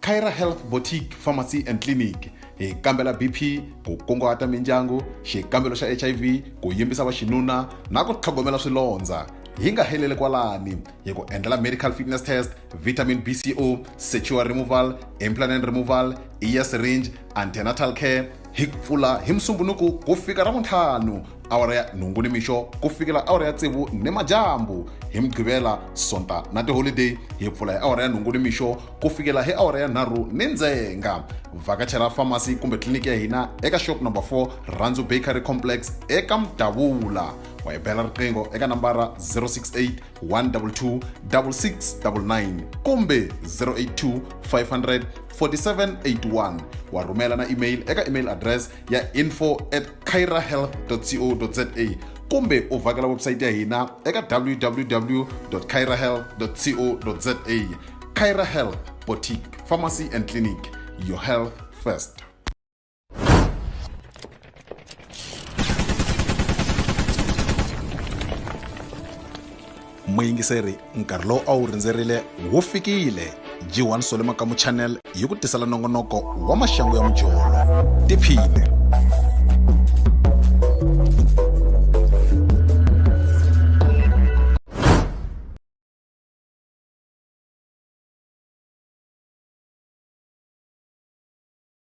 Kyra Health Boutique Pharmacy and Clinic hi kambela BP ku kunguhata mindyangu xikambelo xa HIV ku yimbisa va xinuna na ku tlhogomela swilondza hi nga heleli kwalani hi ku endlela medical fitness test vitamin BCO secure removal implant removal ear syringe antenatal care hi pfula hi musumbunuku ku fika ra vuntlhanu awara ya nhungu ni mixo ku fikela awara ya tsevu ni majambu hi mugqivela sonta na tiholideyi hi pfula hi awara ya nhungu ni mixo ku fikela hi awara ya nharhu ni ndzenga vhakachela famasi kumbe tliliniki ya hina eka shop number 4 randzu bakery complex eka mudavula wa hi bela riqingho eka nambara 068 122 6699 kumbe 082 500 4781 wa rhumela na email eka email address ya info at cairahealth co za kumbe u vhakela website ya hina eka www cairahealth co za caira health boutique pharmacy and clinic your health first muyingiseri nkarhi lowu a wu rindzerile wu fikile g1 sole makamu channel yi ku tisela nongonoko wa maxangu ya mujolo tiphine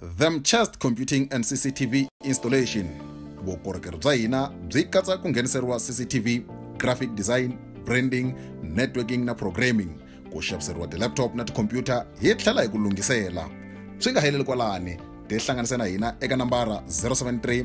Themchest Computing and CCTV Installation vukorhokeri bya hina byi katsa ku ngheniseriwa CCTV, graphic design, branding, networking na programming, ku xaviseriwa ti-laptop na tikhompyuta hi tlhela hi ku lunghisela. Swi nga heleli kwalani, tihlanganise na hina eka nambara 073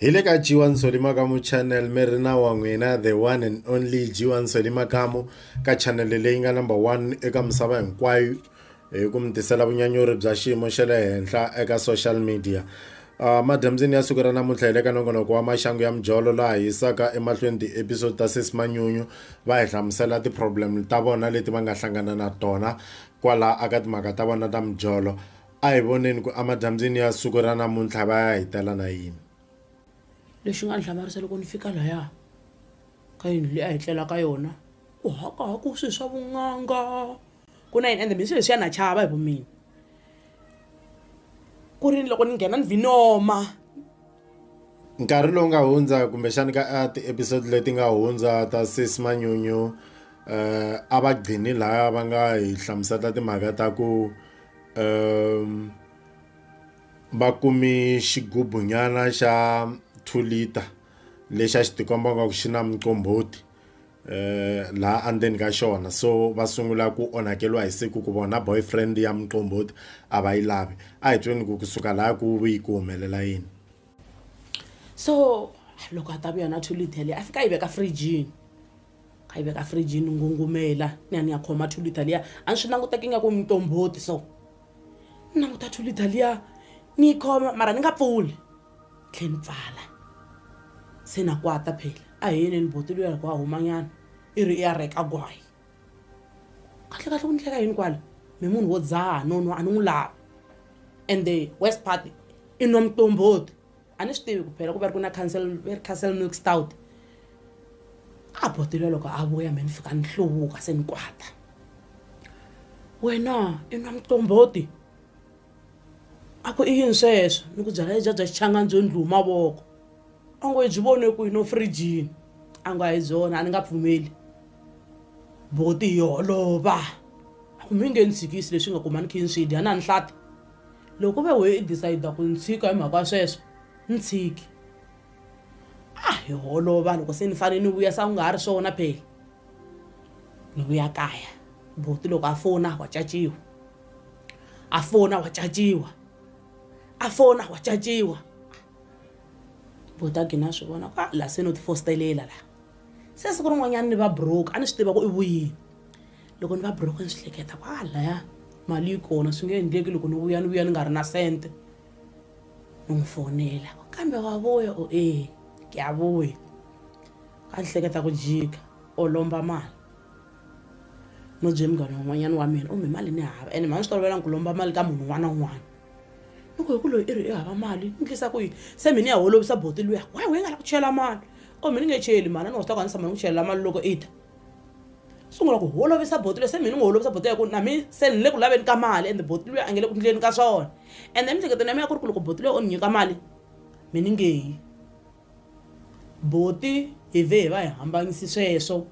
hi le ka jiwa nsoli makamu channel mi ri na wa n'wina the one and only jiwa nsoli makamu ka channel leyi nga number one eka misava hinkwayo hi ku mi tisela vunyanyuri bya xiyimo xa le henhla eka social media Uh, madyambyini ya siku ra namuntlha hi le ka nongonoko wa maxangu ya mijolo laha hisaka emahlweni ti-episode ta sesi manyunyu va hi hlamusela ti-problem ta vona leti va nga hlangana na tona kwala aka timhaka ta vona ta mijolo A hi voneni ku emadambyini ya siku ra namuntlha va ya hi tela na yini. Lexi nga ni hlamarisa loko ni fika laya ka yindlu leyi a hi tlela ka yona ku hakahaku swi swa vun'anga ku na yini ende mina swi leswiya na chava hi vu mina ku ri loko ni nghena ni vhinoma nkarhi lowu nga hundza kumbexani ka ti-episode leti nga hundza ta sis manyunyu um a va gcini laya va nga hi hlamusela timhaka ta ku um va kumi xigubunyana xa two liter lexi a xi tikomba nga ku xi na muqombhoti eh laha andzeni ka xona so va sungula ku onhakeriwa hi siku ku vona boyfriend ya muqombhoti a va yi lavi a hi tweni ku kusuka laha ku yi ku humelela yini so loko a ta vuya na two liter leyi a fika a yi veka frijini a yi veka frijini ngungumela ni ya ni ya khoma two liter liya a ni swi languteki nga ku mitombhoti so ni languta two liter liya ni yi khoma mara ni nga pfuli tlhe ni pfala se na kwata phela a hi yeneni boti luya loko a humanyana i ri i ya reka gwayi kahle kahle ku ni hleka yini kwala mi munhu wo dzaha nonwa a ni n'wi lavi and the west party i nwa mitombhoti a ni swi tivi ku phela ku va ri ku na cancel va ri castle milk stout a botile loko a vuya me ni fika ni hluvuka se ni kwata wena i nwa muqombhoti a ku i yini sweswo ni ku byala lebya bya xichangani byo ndlhu mavoko a ngo hi byi vone ku yi no frijini a ngo a hi byona a ni nga pfumeli boti hi holova a ku mi nge ni tshikisi leswi nga kuma ni khe ni swi dya na ni hlata Loko ve why i decide ku ni tshika hi mhaka sweswo ni tshiki a hi holova loko se ni fanele ni vuya sa ku nga ha ri swona phela ni vuya kaya buti loko a fona wa caciwa a fona wa caciwa a fona wa caciwa buti a gina swi vona ku la se no ti fostelela la se siku rin'wanyana ni va broke a ni swi tiva ku i vuyini loko ni va buroko ni swi hleketa ku a laya mali yi kona swi nge endleki loko ni vuya ni vuya ni nga ri na sente ni n'wi fonela kambe wa vuya o e ke ya vuya ka ni hleketa ku jika o lomba mali no bye munghana un'wanyana wa mina u mi mali ni hava ene mhani swi tolovelanga ku lomba mali ka munhu un'wana na un'wana ni ku hi ku loyi i ri i hava mali ni tlisa ku yini se mi ni ya holovisa boti luya why wu yi nga la ku chela mali o mi ni nge cheli mali a ni wa swi ta ku a ni tshama ni ku chelela mali loko i ta sungula ku holovisa botile se mina n'wi holovisa botile ya ku na mi se ni le ku laveni ka mali ende botile a nge le ku ndleni ka swona ende emiehleketweni ya mina ya ku ri ku loko botile o ni nyika mali mi ni ngeyi boti hi ve hi va hi hambanyisi sweswo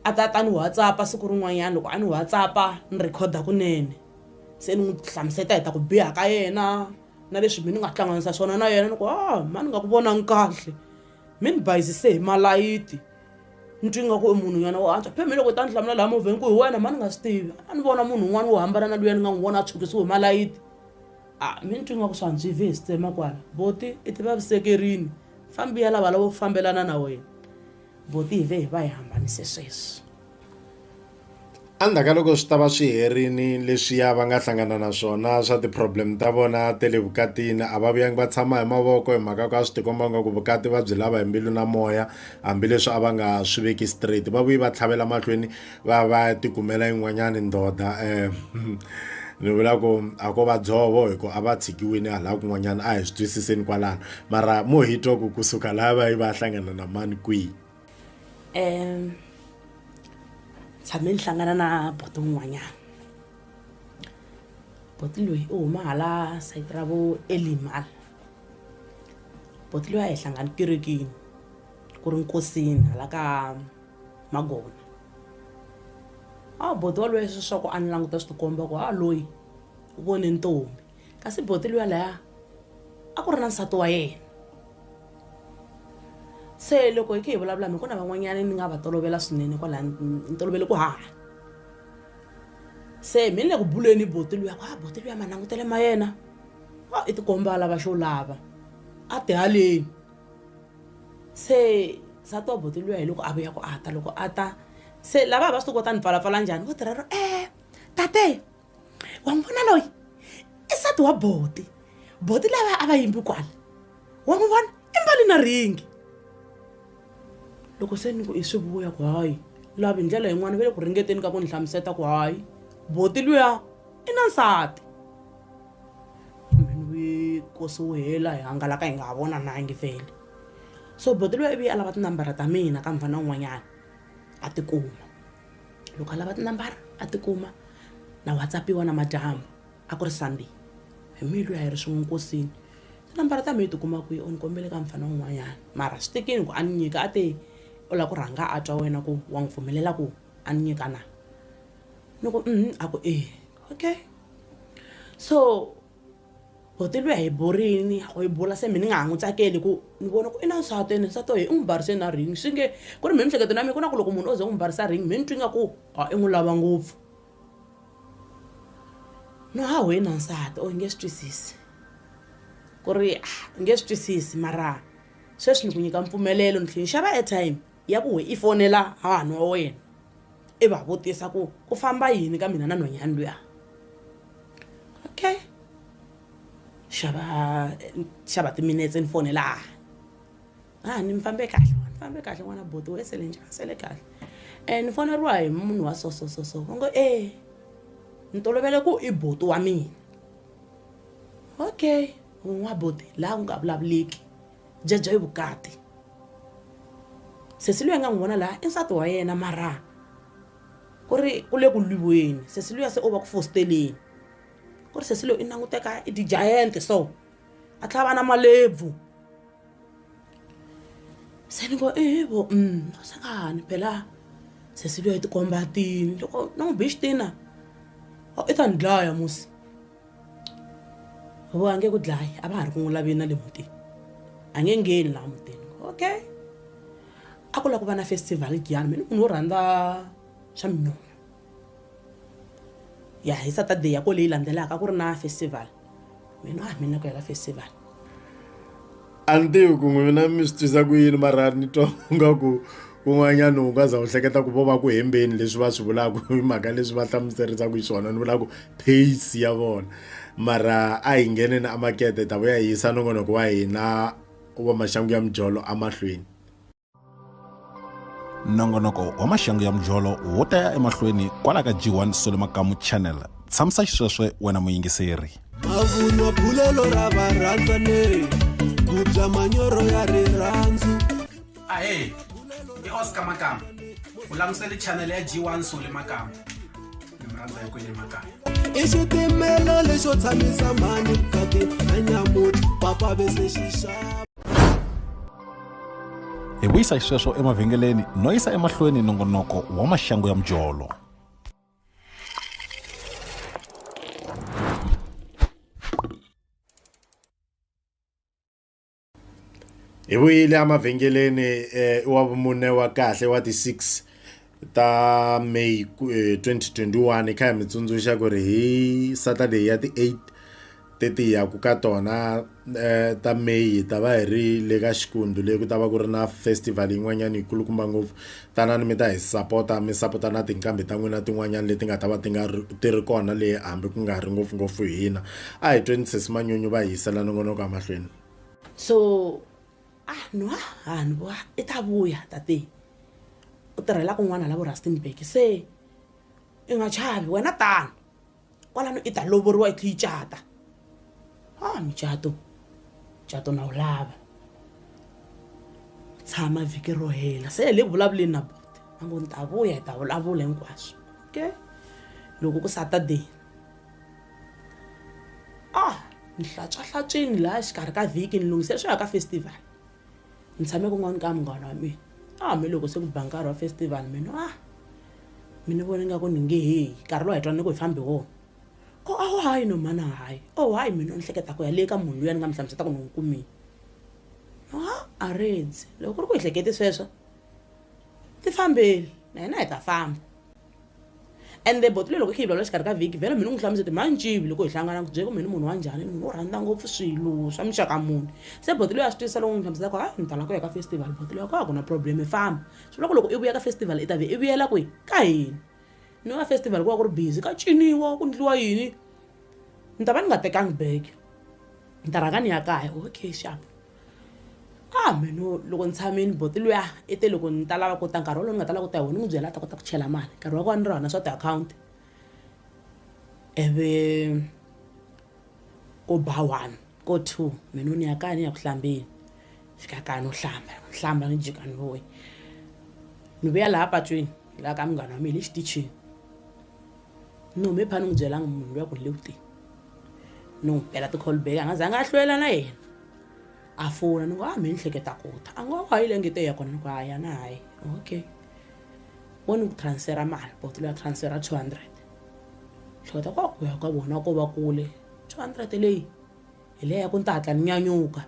a ta ta ni whatsappa siku rin'wanyana loko a ni whatsappa ni rhekhoda kunene se ni n'wi hlamuseta hi ta ku biha ka yena na leswi mi ni nga hlanganisa swona na yena ni ku a ah, ma ni nga ku vonangi kahle mi ni bayizise hi malayiti ni twi nga ku i munhu nyana wo antswa pheme loko ta ni hlamula laha movheni ku hi wena mhani nga swi tivi a ni vona munhu un'wana wo hambana na luya ni nga n'wi vona a tshukisiwe hi malayiti a mi ni twi nga ku swa ndzi ve hi swi tsema kwala boti i ti vavisekerini fambi ya lava lavo fambelana na wena boti hi ve hi va hi hambanise sweswi Endzhaku ka loko swi ta va swi herile leswiya va nga hlangana na swona swa ti-problem ta vona ta le vukatini a va vuyangi va tshama hi mavoko hi mhaka ka swi tikomba nga ku vukati va byi lava hi mbilu na moya hambileswi a va nga swi veki straight va vuyi va tlhavela mahlweni va ya va ya tikumela yin'wanyani ndoda um ni vula ku a ko va dzovo hi ku a va tshikiwile hala kun'wanyana a hi swi twisiseni kwalano mara mo hi twa ku kusuka laya va yi va ya hlangana na mani kwihi. um tshame ni hlangana na boto un'wanyana boti loyi u huma hala sayiti ra vo elimal boti loyi a hi hlangani kerekini ku ri nkosini hala ka magona a boti waloye swi swa ku a ni languta swi tikomba ku ha loyi u vone ntombi kasi boti luya laya a ku ri na nsati wa yena se loko hi khe hi vulavula mi ku na van'wanyana ni nga va tolovela swinene kwala ni tolovele ku haha se mi ni le ku buleni boti luya ku a boti luya manangutele ma yena a i tikomba a lava xo lava a tihaleni se nsati wa boti luya hi loko a vuya ku a ta loko a ta se lava va swi ti kota ni pfalapfala njhani vo tirha ro e tate wa n'wi vona loyi i sati wa boti boti lava a va yimbi kwala wa n'wi vona i mbali na ringi loko se ni ku i swi vuya ku hayi lavi hi ndlela yin'wana va le ku ringeteni ka ku ni hlamuseta ku hayi boti luya i na nsati kosi wu hela hi hangalaka hi nga ha vonanangi vele so boti luya ivi a lava tinambara ta mina ka mfana un'wanyana a tikuma loko a lava tinambara a tikuma na whatsapp-iwa namadyambu a ku ri sunday hi mihi loyi a hi ri swin'we nkosini tinambara ta mihi tikuma kwihi u ni kombele ka mfana un'wanyana mara swi tekini ku a ni nyika a te u lava ku rhanga a twa wena ku wa n'wi pfumelela ku a ni nyika na ni ku a ku e okay so boti lweyi a hi burini a hi bula se mi ni nga ha n'wi tsakeli ku ni vona ku i na nsati ene nsati oye i n'wi barise na ring swi nge ku ri mi mihleketo na mina ku na ku loko munhu o ze n'wi barisa ring mi ni twi nga ku a i n'wi lava ngopfu no ha wena nsati o hi nge swi twisisi ku ri a hi nge swi twisisi mara sweswi ni ku nyika mpfumelelo ni tlhe ni xava airtime ya ku i fonela hahani wa wena i va vutisa ku ku famba yini ka mina na nhwanyani luya okay xava xava timinetse ni fonela hahani a ni mi fambe kahle ni fambe kahle n'wana boti we sele njhani sele kahle um ni foneriwa hi munhu wa so so so so va ngo e ni tolovele ku i boti wa mina okay un'wa boti laha ku nga vulavuleki jajai vukati sesi luya nga n'wi vona laha i nsati wa yena mara ku ri ku le ku lwiweni sesi luya se o va ku fositeleni ku ri sesi loyi i languteka i ti-giant so a tlhela va na malebvu se ni ngo evo um mm, sengani phela sesi luya i tikomba tini loko ni n'wi bixitina i ta ni dlaya musi vo a nge ku dlayi a va ha ri ku n'wi laveni na le mutini a nge ngheni laha mutini okay a ku lava ku va na festival giyani mina munhu wo rhandza swa minyonyo ya hi saturday ya ko leyi landzelaka a ku ri na festival mina a mina ku ya ka festival a ni tivi ku n'wina mi swi twisa ku yini mara ni twa nga ku kun'wanyana u nga za u hleketa ku vo va ku hembeni leswi va swi vulaka hi mhaka leswi va hlamuserisaka hi swona ni vula ku pace ya vona mara a hi ngheneni a makete ta vuya hi yisa nongonoko wa hina wa maxangu ya mijolo emahlweni nongonoko wa maxangu ya mujolo wo ta ya emahlweni kwala ka g1 solo makamu channel tshamisa xisweswe wena muyingiseri mavunwa bulelo ra varhandzaneri ku bya manyoro ya rirhandzu ahe i oscar makamba u langusele chanele ya g1 sole makamba i xitimela lexo tshamisa mhani kati na nyamuti papa ve se xi xava hi vuyisa xisweswo emavhengeleni no yisa emahlweni nongonoko wa maxangu ya mujolo hi vuyile emavhengeleni eh, wa vumune wa kahle wa ti-6 ta may 2021 eh, kha hi mi tsundzuxa ku ri hi saturday ya ti-8 teti ya ku ka tona eh, ta may hi ta va hi ri le ka xikundu leyi ku ta va ku ri na festival yin'wanyana yi kulukumba ngopfu Tanani mi ta hi sapota mi sapota na tinqambi ta n'wina tin'wanyana leti nga ta va ti nga ri ti ri kona le hambi ku nga ri ngopfungopfu hina a hi tweni sesi manyunyu va hi yisela nongonoko emahlweni so ah no ah ni vo i ta vuya tate u tirhela kun'wana la vo rustenburg se i nga chavi wena tano kwalano i ta lovoriwa i tlhe yi cata a mucato mucato na wu lava tshama vhiki ro hela se hi le vulavuleni na buti a ngo ni ta vuya hi ta vulavula hinkwaswo okay loko ku saturday a ni hlantswahlantswini laha xikarhi ka vhiki ni lunghisela swi ya ka festival ni tshame kun'wana ka munghana wa mina a ah, hambiloko se ku ba nkarhi wa festival mina a ah, mi ni vona ingaku ni nge heyi nkarhi lowu hi twana ni ku hi fambi wona o oh, a wo hayi no mhana hayi o oh, hayi mina ni hleketa ku ya le ka munhu luya ni nga mi hlamuseta ku ni n'wi kumile a a redzi loko ku ri ku hi hlekete sweswo ti fambeli na hina hi ta famba ende boto leri loko i khe yi vulavula xikarhi ka vhiki vhele mina u n'wi hlamusa ti manjivi loko hi hlangana ku byele ku mina munhu wa njhani ni munhu wo rhandza ngopfu swilo swa muxaka muni se boto leyi a swi twisisa loko n'wi hlamusela ku ha ni tala ku ya ka festival boto leyi ku a ku na problem i famba swi vula ku loko i vuya ka festival i ta ve i vuyela kwihi ka hina ni va festival ku va ku ri busy ka ciniwa ku ndliwa yini ni ta va ni nga tekangi bag ni ta rhanga ni ya kaya okay xap a mino loko ni tshamini boti luya i te loko ni ta lava ku ta nkarhi wolowo ni nga ta lava ku ta hi wona ni n'wi byela a ta kota ku chela mali nkarhi wa kona ni ri hona swa tiakhawunti ivi ko ba one ko two mina ni ya kaya ni ya ku hlambeni fika kaya no hlamba ni hlamba ni jika ni vuya ni vuya laha patwini laha ka munghana wa mina hi le xitichini ni hume pha ni n'wi byelanga munhu luya ku ni le ku teni ni n'wi bela ti-call back a nga zangi a hlwela na yena a fona ni ku a mi ni hleketa ku ta a ngo a yi le ngeto ya kona ni ku a ya na hayi okay wo ni ku transfera mali botolo ya transfera two hundred hleketa ku a ku ya ka vona ko va kule two hundred leyi hi leya ku ni ta hatla ni nyanyuka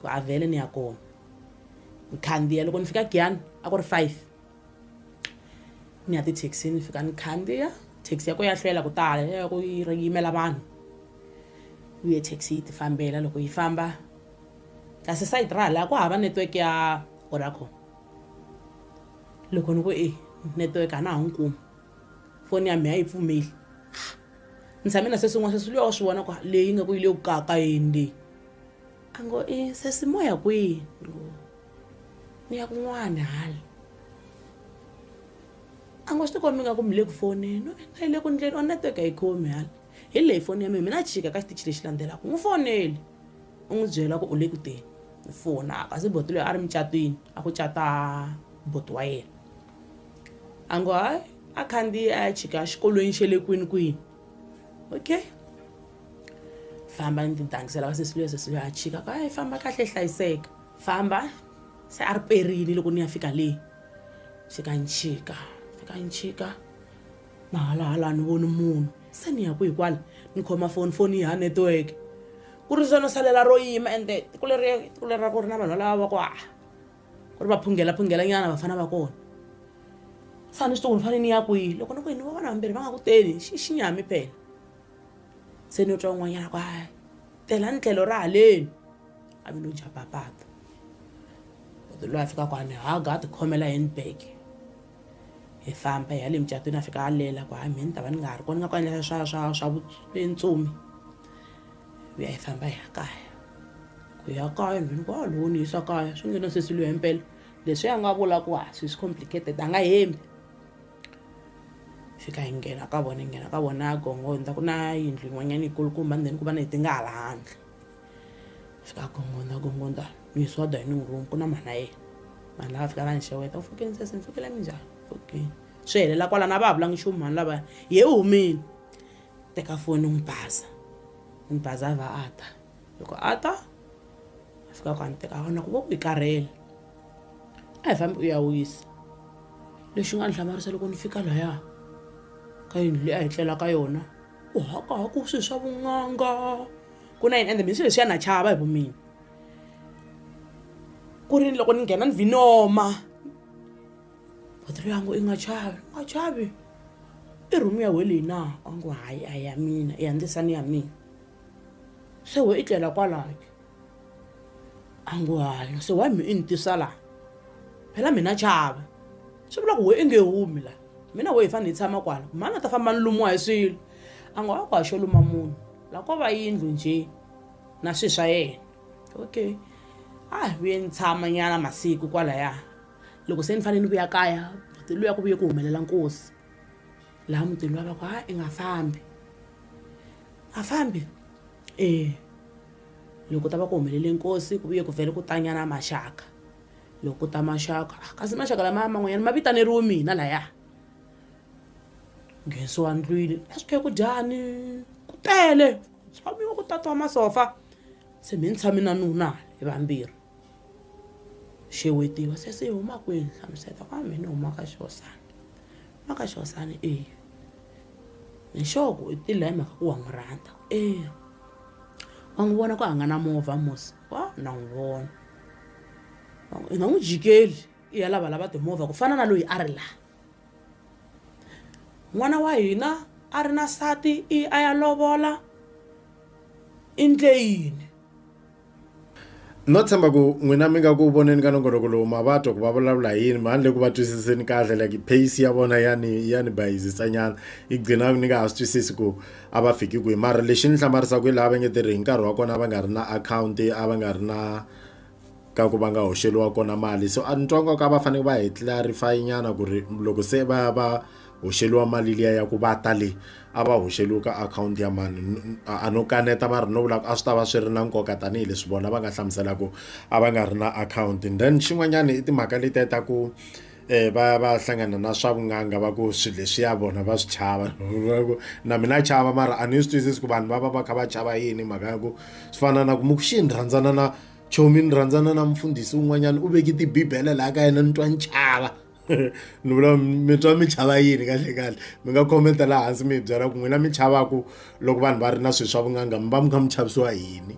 ku a vhele ni ya kona ni khandziya loko ni fika giyani a ku ri five ni ya tithekisini ni fika ni khandziya thekisi ya ko ya hlwela ku tala ya ku yi ri yimela vanhu u ye thekisi yi tifambela loko yi famba kasi sayiti ra hala ku hava network ya oracom loko ni ku e network a na ha n'wi kumi foni ya mina a yi pfumeli ni tshame na seswin'wana seswi luya wa swi vona ku leyi nga ku yi le ku kaka yini leyi a ngo i sesi moya kwihi mi ya kun'wana hala a ngo swi ti kombi nga ku mi le ku foneni na yi le ku ndleni o network a yi khomi hala hi leyi foni ya mina mina chika ka xitichi lexi landzelaka n'wi foneli u n'wi byela ku u le ku teni u fona kasi boti loyi a ri mucatwini a ku cata boti wa yena a ngo hayi a khandziye a ya chika xikolweni xe le kwini kwini okay famba ni tidangisela ka sesi luya sesi luya a chika ku hayi famba kahle hlayiseka famba se a ri perini loko ni ya fika le fika ni chika fika ni chika na halahala ni voni munhu se ni ya ku hi kwala ni khoma foni foni yi ha network ku ri zona salela ro yima ende tiko leri tiko leri ra ku ri na vanhu valava va ku haha ku ri va phungela phungela nyana vafana va kona sa ni swi tiku ni fane ni ya kwihi loko ni ku yini va vana vambirhi va nga ku teni xi xi nyami phela se ni yo twa un'wanyana ku hayi tela ni tlhelo ra haleni a vi lo dya papata koti loyi a fika kwani haga a tikhomela handbag hi famba hi ya le mucatwini a fika a lela ku hayi mhini ta va ni nga ha ri kona nga ku endla swa swa swa vuntsumi ku ya hi famba hi ya kaya ku ya kaya mhini ku a ah, lowu ni yisa kaya swi nge no sesi loyi mpela leswi a nga vula ku ha ah, swi swi complicated a nga hembi fika hi nghena ka vona hi nghena ka vona gongo ni ta ku na yindlu yin'wanyana yikulukumba ndzeni ku va na hi ti nga hala handle fika gongonda gongonda uyiswa dining room ku na mhana yena vanhu lava fika va ni xeweta u fikeni sesi ni fikile mi njhani fikeni swi helela kwala na va ha vulangi nchumu mhani lavaya ye u humile teka foni n'wi baza n'wi baza a va a ta loko a ta a fika ku a ni teka a vona ku vo ku yi karhele a hi fambi u ya wisa lexi nga ni hlamarisa loko ni fika laya ka yindlu leyi a hi tlela ka yona u hakaha ku swi swa vun'anga ku na yini ende mina swilo leswi ya na chava hi vumina ku ri ni loko ni nghena ni vinoma batiri yangu i nga chavi nga chavi i rhumu ya weleyi na a ngo hayi a ya mina i ya ndzisa ni ya mina se we i tlela kwalayo angwalo se wa mi i ni tisa laha phela mina chava swi vula ku we i nge humi laha mina we hi fanele hi tshama kwala mhani a ta famba ni lumiwa hi swilo a nga wa ku haxo luma munhu laha ko va yindlu njhe na swi swa yena okay a hi vuye ni tshama nyana masiku kwalaya loko se ni fanele ni vuya kaya mutini luya ku vuye ku humelela nkosi laha mutini luya va ku ha i nga fambi a fambi ee loko ta va ku humelele nkosi ku vuye ku vhele ku tanyana maxaka loko ta maxaka ah, kasi maxaka lamaya man'wanyana ma vitaneriwe mina laya nghensiwa ndlwini a swi khe ku dyani ku tele tshamiwa ku tatiwa masofa se mi ni tshami na nuna hi vambirhi xewetiwa se se huma kwihi ni hlamuseta ku a mina ni huma ka xihosana huma ka xihosana eya hi xoho ku i tile hi mhaka ku wa n'wi rhandza eya wa n'wi vona ku a nga na movha mosi wa na n'wi vona i nga n'wi jikeli i ya lava lava timovha ku fana na loyi a ri laha n'wana wa hina a ri na sati i a ya lovola i ndle yini no tshemba ku n'wina mi nga ku voneni ka nongonoko lowu ma va twa ku va vulavula hi yini handle ku va twisiseni kahle like pace ya vona ya ni ya ni bayizisanyana yi gcina ni nga ha swi twisisi ku a va fiki kwihi mara lexi ni hlamarisaka hi laha va nge tirhi hi nkarhi wa kona va nga ri na akhawunti a va nga ri na ka ku va nga hoxeliwa kona mali so a ni twa nga ku a va fanele va hi clarify nyana ku ri loko se va va hoxeliwa mali liya ya ku va ta le a va hoxeliwi ka akhawunti ya mani a no kaneta va ri no vula ku a swi ta va swi ri na nkoka tanihileswi vona va nga hlamusela ku a va nga ri na akhawunti then xin'wanyana i timhaka letiya ta ku eh va va hlangana na swa vun'anga va ku swilo leswiya vona va swi chava na mina chava mara a ni swi twisisi ku vanhu va va va kha va chava yini mhaka ya ku swi fana na ku muku xi ni rhandzana na chomi ni rhandzana na mufundhisi un'wanyana u veke tibibele laha ka yena ni twa ni chava ni vula mi twa mi chava yini kahle kahle mi nga khomenta laha hansi mi hi byela ku n'wina mi chavaku loko vanhu va ri na swilo swa vun'anga mi va mi kha mi chavisiwa yini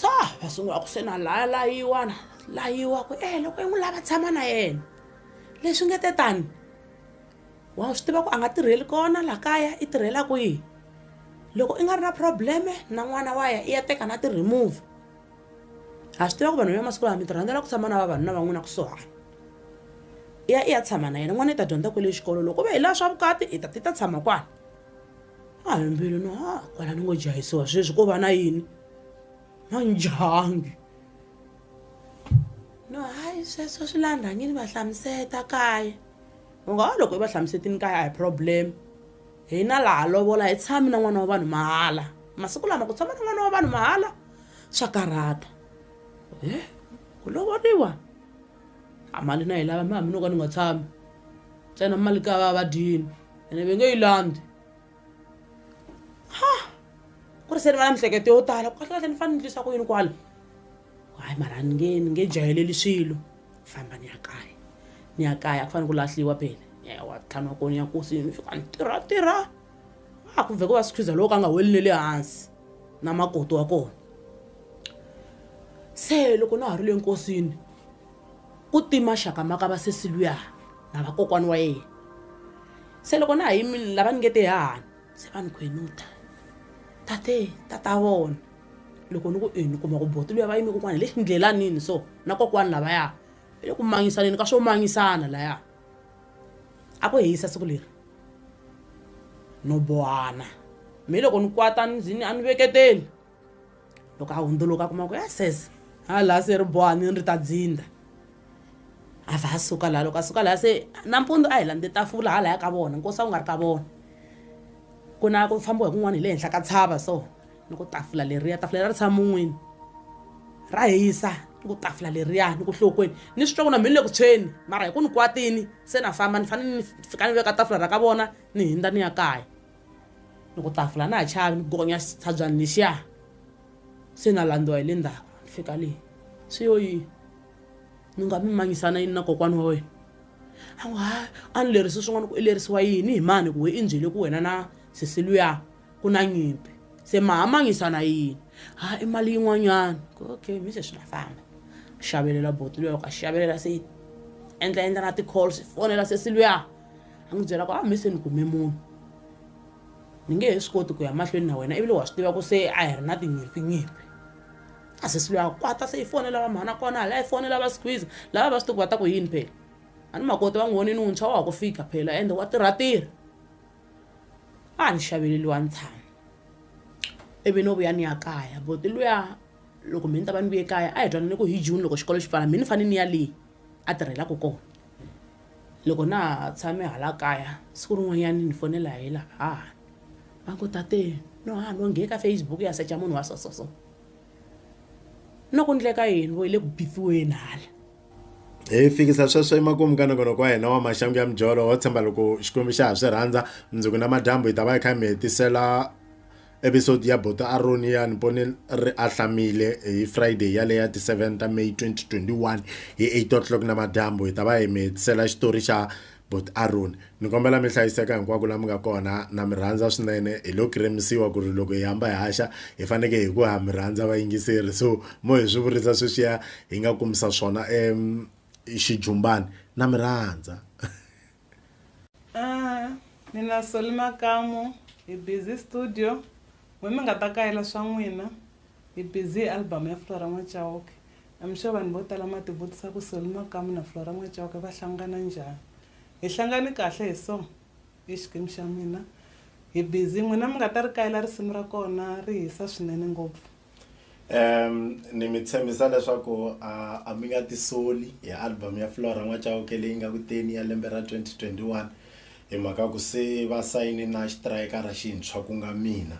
sa va sungula ku se na laya layiwana layiwa ku e loko yi n'wi lava tshama na yena leswi nge te tani wa swi tiva ku a nga tirheli kona laha kaya i tirhelaku yini loko i nga ri na probleme na n'wana wa ya i ya teka na ti-remove ha swi tiva ku vanhu va masiku lawa mi rhandzela ku tshama na vavanuna van'wina kusuhani i ya i ya tshama na yena n'wana i ta dyondza kwele xikolo loko ve hi laha swa vukati i ta ti ta tshama kwana a hi mbilu no ha kwala ni ngo jahisiwa sweswi ko va na yini na njhangi no hayi sweswo swi la rhangini va hlamuseta kaya u nga ha loko i va hlamusetini kaya a hi problem hina laha lovola hi tshami na n'wana wa vanhu mahala masiku lama ku tshama na n'wana wa vanhu mahala swa karhata e ku lovoriwa a mali na yi lava mi hambi no ka ni nga tshami ntsena mali ka va vadyini ene ve nge yi landzi ha ku ri se ni va na mihleketo yo tala kahlekahle ni fanele ni ndlisa ku yini kwala hayi mara ni nge ni nge jayeleli swilo famba ni ya kaya ni ya kaya ku fanele ku lahliwa phela ewa tlhanu wa kona ya kosi ni fika ni tirha tirha a ku vhe ku va sikhiza loko a nga weli ne le hansi na makoti wa kona se loko na ha ri le nkosini ku tima xaka maka va sesi luya na vakokwani wa yena se loko na ha yimile lava ni nge te hahani se va ni khwenuta tate tata vona loko ni ku ini kuma ku boti luya va yime kokwani hi le xindlelanini so na kokwani lavaya hi le ku mangisaneni ka swo mangisana laya a ku hisa siku leri no bohana mi loko ni kwata ni zini a ni veketeli loko a hundzuluka a kuma ku ya sese ha laha se ri boha ni ri ta dzinda a va a suka laha loko a suka laha se nampundzu a hi landze tafula ha laya ka vona nkosi a wu nga ri ka vona ku na ku fambiwa hi kun'wana hi le henhla ka tshava so ni ku tafula leriya tafula leri ri tshama mun'wini ra hisa ni ku tafula leriya ni ku hlokweni ni swi twa ku na mhini le ku tshweni mara hi ku ni kwatini se na famba ni fanele ni fika ni veka tafula ra ka vona ni hindza ni ya kaya ni ku tafula na ha chavi ni gonya tshabyani lexiya se na landziwa hi le ndzhaku ni fika leyi swi yo yini ni nga mi mangisana yini na kokwana wa wena a n'wi ha a ni lerisi swin'wana ku i lerisiwa yini hi mani ku we i nbyele ku wena na sesiluya Ku na nyimpi. Se ma hamanyisa na yini? Ha i mali yin'wanyana. Ku okay mi se swi nga famba. Xavelela buti luya loko a xavelela se yi endla endla na ti-calls yi fonela sesi luya a n'wi byela ku a mi se ni kume munhu ni nge he swi koti ku ya mahlweni na wena ivile wa swi tiva ku se a hi ri na tinyimpinyimpi a sesi luya kwata se yi fonela va mhana kona hala yi fonela va squeeze lava va swi tiku va ta ku yini phela a ni makoti va n'wi vonini wuntshwa wa ha ku fika phela ende wa tirhatirha a ni xavele luwa ntshami ivi no vuya ni ya kaya but luya loko me ni ta va ni vuye kaya a hi twanane ku hi june loko xikolo xi pfala me ni fanele ni ya leyi a tirhelaka kona loko na ha tshame hala kaya siku rin'wanyana ni fonela hi la hahani va ngo tate no ha no nghe ka facebook ya secha munhu wa so so so no ku ndleka yini vo yi le ku bithiweni hala hi fikisa sweswo emakumu ka nongonoko wa hina wa maxangu ya mijolo ho tshemba loko xikwembu xa ha swi rhandza mundzuku na madyambu hi ta va hi kha hi mi hetisela episode ya boto aroni ya ni pone ri ahlamile hi friday yaleyo ya ti-7 ta may 2021 hi 8 o'clock na madyambu hi ta va hi mi hetisela xitori xa But Aron ni kombela mi hlayiseka hinkwako la mi nga kona na mi rhandza swinene hi lo kiremisiwa ku ri loko hi hamba hi haxa hi faneke hi ku ha mi rhandza vayingiseri so mo hi swi vurisa sweswiya hi nga kumisa swona um xijumbani na mi rhandza ah, mina soli makamu hi busy studio n'we mi nga ta kayela swa n'wina Hi busy hi album ya Flora N'wa-Chauke. I'm sure vanhu vo tala ma ti vutisa ku Solly Makamu na Flora N'wa-Chauke va hlangana njhani. Hi hlangane kahle hi so, i Xikimu xa mina. Hi busy, n'wina mi nga ta ri kayela risimu ra kona, ri hisa swinene ngopfu. Ehm ni mi tshembisa leswaku a a mi nga tisoli hi album ya Flora N'wa-Chauke leyi nga ku teni ya lembe ra 2021 hi mhaka ku se va sayine na xitirayikara xintshwa ku nga mina.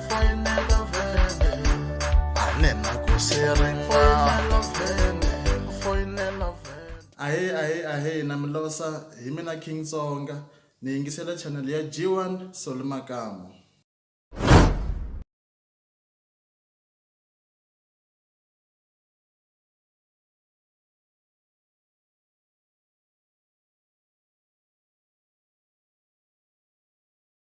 ahe ahe ahe na milosa hi mina king tsonga ni yingisela channel ya g1 solomakamu